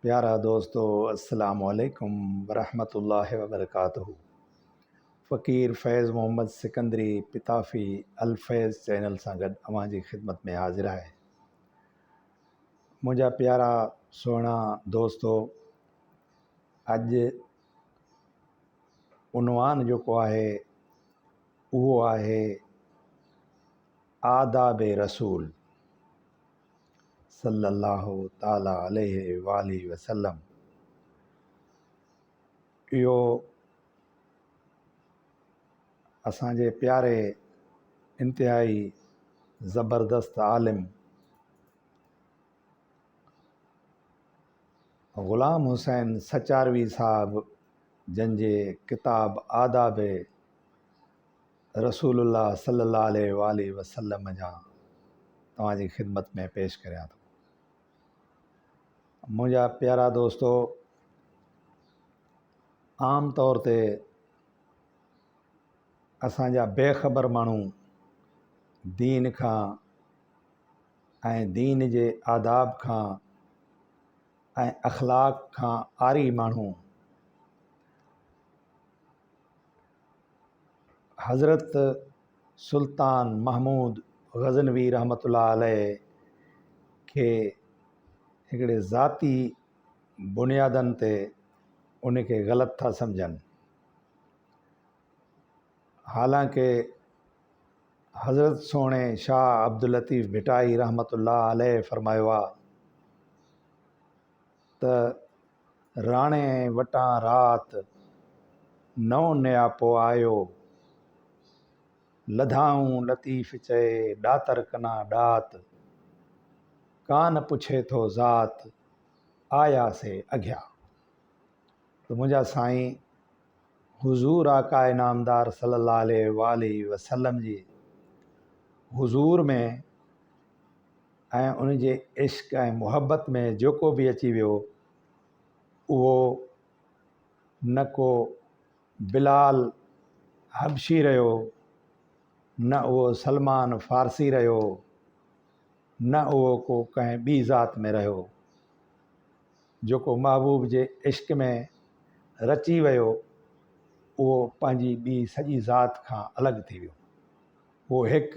پيارا دوستو السلام عليڪم ورحمة الله وبرڪاته فقير فيض محمد سڪندري پتافي الفيض چينل سان گڏ اوهان جي خدمت ۾ حاضر آهي منهنجا پيارا سهڻا دوستو اڄ عنوان جيڪو آهي اهو آهي آداب رسول صلّي اللّٰه تعالٰي عليه واٰله وسلّم اهو اسان جي پياري انتهائي زبردست عالم غلام حسين سچاروي صاحب جن جي ڪتاب آداب رسول الله صلي الله عليه واٰله وسلم جا توهان جي خدمت ۾ پيش ڪريان ٿو منهنجا پيارا دوستو عام طور تي اسان جا بي خبر ماڻهو دين کان ۽ دين جي آداب کان ۽ اخلاق کان آري ماڻهو حضرت سلطان محمود غزنوي رحمة الله عليه کي هڪڙي ذاتي بنيادن تي ان کي غلط ٿا سمجهن حالانڪه حضرت سهڻي شاهه عبداللطيف ڀٽائي رحمة الله عليه فرمايو آهي ته راڻي وٽان رات، نو نياپو آيو. لڌائون لطيف چئي، ڏاتر ڪنا ڏات. ڪان پڇي ٿو ذات، آيا سي اگهيا. ته منهنجا سائين حضور آقا انعامدار صلي الله عليه واٰله وسلم جي حضور ۾ ۽ ان جي عشق ۽ محبت ۾ جيڪو به اچي ويو اهو نه ڪو بلال حبشي رهيو نه اهو سلمان فارسي رهيو نه اهو ڪو ڪنهن ٻي ذات ۾ رهيو جيڪو محبوب جي عشق ۾ رچي ويو، اهو پنهنجي ٻي سڄي ذات کان الڳ ٿي ويو. اهو هڪ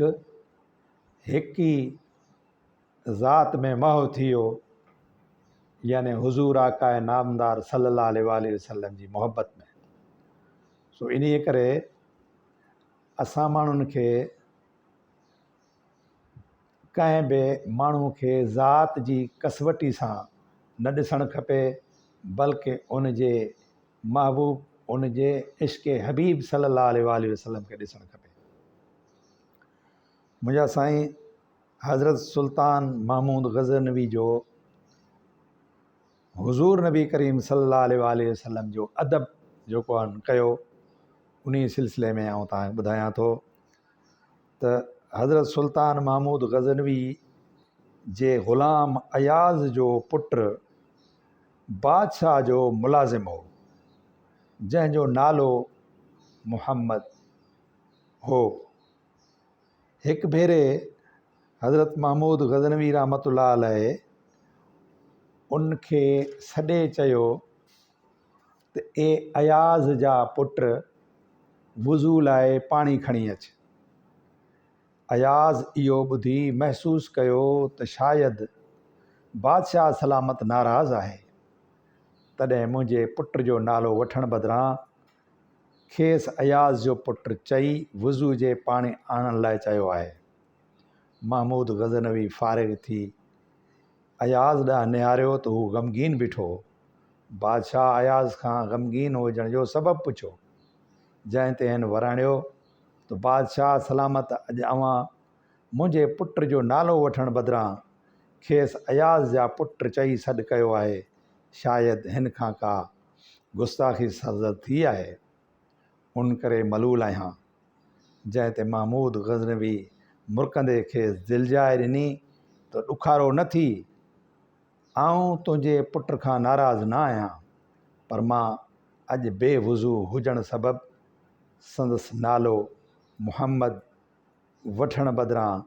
هڪ ئي ذات ۾ محو ٿي ويو، يعني حضور آقاء نامدار صلّي اللّٰه عليه واٰله وسلّم جي محبّت ۾. سو انهيء ڪري اسان ماڻهن کي ڪنهن به ماڻهو کي ذات جي ڪسوٽي سان نه ڏسڻ کپي بلڪ ان جي محبوب ان جي عشق حبيب صلي الله عليه وآله وسلم کي ڏسڻ کپي منهنجا سائين حضرت سلطان محمود غزنوي جو حضور نبي ڪريم صلي الله عليه وآله وسلم جو ادب جو ڪيو انهي سلسلي ۾ آئون تهان ٻڌايان ٿو ته حضرت سلطان محمود غزنوي جي غلام اياز جو پٽ بادشاهه جو ملازم هو، جنهن جو نالو محمد هو. هڪ ڀيري حضرت محمود غزنوي رحمة الله عليه ان کي سڏي چيو، ته اي اياز جا پٽ وضو لاء پاڻي کڻي اچ. اياز اهو ٻڌي محسوس ڪيو ته شايد بادشاهه سلامت ناراض آهي، تڏهن منهنجي پٽ جو نالو وٺڻ بدران کيس اياز جو پٽ چئي وضو جي پاڻي آڻڻ لاء چيو آهي. محمود غزنوي فارغ ٿي. اياز ڏانهن نهاريو ته هو غمگين بيٺو هو. بادشاهه اياز کان غمگين هجڻ جو سبب پڇيو، جنهن تي هن وراڻيو ته بادشاهه سلامت اڄ اوهان منهنجي پٽ جو نالو وٺڻ بدران کيس اياز جا پٽ چئي سڏ ڪيو آهي، شايد هن کان ڪا گستاخي سرزد ٿي آهي. ان ڪري ملول آهيان. جنهن تي محمود غزنوي مرڪندي کيس دلجاء ڏني ته ڏکارو نه ٿي، آئون تنهنجي پٽ کان ناراض نه آهيان، پر مان اڄ بي وضو هجڻ سبب سندس نالو محمد وٺڻ بدران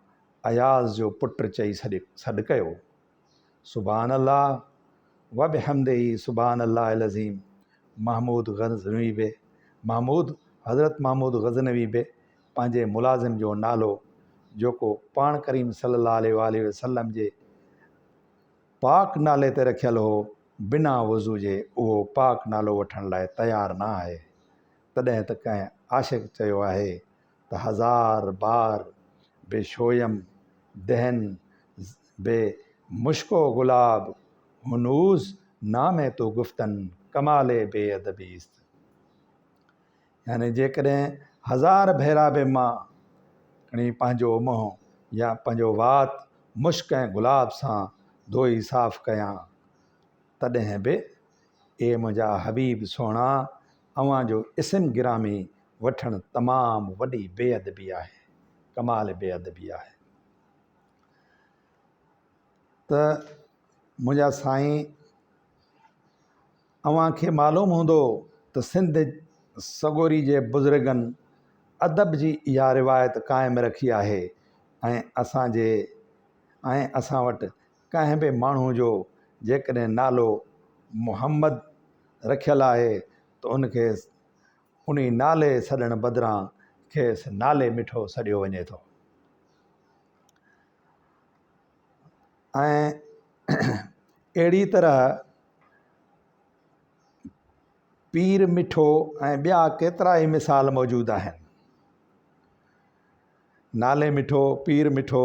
اياز جو پٽ چئي سڏ ڪيو. سبحان الله وبحمده سبحان الله العظيم محمود غزنوي به محمود حضرت محمود غزنوي به پنهنجي ملازم جو نالو جيڪو پاڻ ڪريم صلي الله عليه واله وسلم جي پاڪ نالي تي رکيل هو بنا وضو جي اهو پاڪ نالو وٺڻ لاء تيار نه آهي تڏهن ته ڪنهن عاشق چيو آهي ته هزار بار به شويم دهن به مشڪو گلاب هنوز نام تو گفتن ڪمال بي ادبي است يعني جيڪڏهن هزار ڀيرا به مان کڻي پنهنجو منهن يا پنهنجو وات مشڪ ۽ گلاب سان ڌوئي صاف ڪيان تڏهن به اي منهنجا حبيب سهڻا اوهان جو اسم گرامي وٺڻ تمام وڏي بي ادبي آهي ڪمال بي ادبي آهي ته منهنجا سائين اوهان کي معلوم هوندو ته سنڌ سڳوري جي بزرگن ادب جي اها روايت قائم رکي آهي ۽ اسان جي ۽ اسان وٽ ڪنهن به ماڻهو جو جيڪڏهن نالو محمد رکيل آهي ته ان کي انهي نالي سڏڻ بدران کيس نالي مٺو سڏيو وڃي ٿو ۽ اهڙي طرح پير مٺو ۽ ٻيا ڪيترا ئي مثال موجود آهن نالي مٺو پير مٺو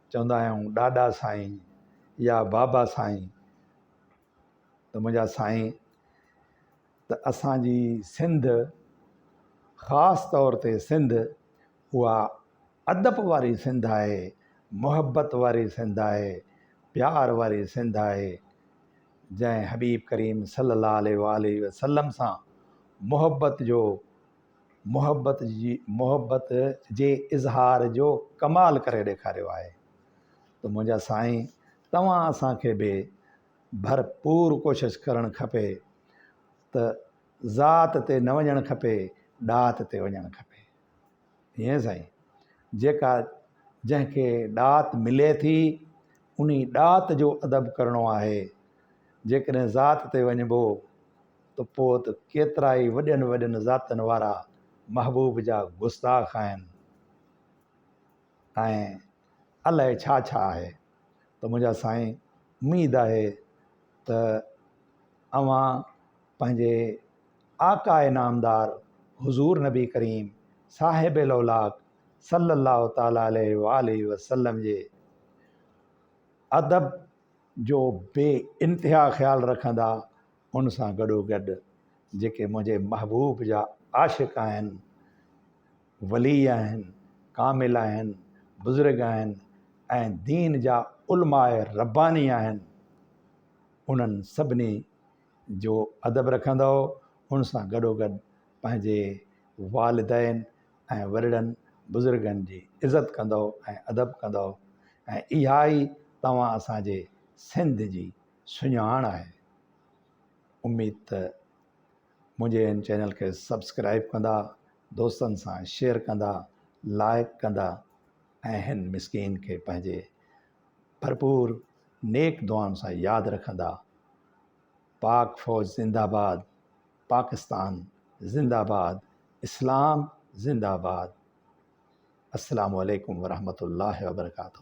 چوندا آهيون ڏاڏا سائين يا بابا سائين ته منهنجا سائين ته اسانجي سنڌ خاص طور تي سنڌ اها ادب واري سنڌ آهي محبت واري سنڌ آهي پيار واري سنڌ آهي جنهن حبيب ڪريم صلّي الله عليه وآله وسلّم سان محبت جو محبت جي محبت جي اظهار جو ڪمال ڪري ڏيکاريو آهي ته منهنجا سائين توهان اسان کي به ڀرپور ڪوشش ڪرڻ کپي ته ذات تي نه وڃڻ کپي ڏات تي وڃڻ کپي ائين سائين جيڪا جنهن کي ڏات ملي ٿي انهي ڏات جو ادب ڪرڻو آهي جيڪڏهن ذات تي وڃبو ته پوء ته ڪيترائي وڏين وڏين ذاتن وارا محبوب جا گستاخ آهن ۽ الائي ڇا ڇا آهي ته منهنجا سائين اميد آهي ته اوهان پنهنجي آقاء نامدار حضور نبي ڪريم صاحب لولاڪ صلّي الله تعالٰي عليه واٰله وسلّم جي ادب جو بي انتها خيال رکندا ان سان گڏوگڏ جيڪي منهنجي محبوب جا عاشق آهن ولي آهن ڪامل آهن بزرگ آهن ۽ دين جا علماء رباني آهن انهن سڀني جو ادب رکندؤ ان سان گڏوگڏ پنهنجي والدين ۽ وڏڙن بزرگن جي عزت ڪندؤ ۽ ادب ڪندؤ ۽ اها ئي توهان اسان جي سنڌ جي سڃاڻ آهي اميد ته منهنجي ان چينل کي سبسڪرائب ڪندا دوستن سان شيئر ڪندا لائڪ ڪندا ۽ هن مسڪين کي پنهنجي ڀرپور نيڪ دعائن سان ياد رکندا پاڪ فوج زنده باد پاڪستان زنده باد اسلام زنده باد السلام عليڪم ورحمة الله وبرڪاته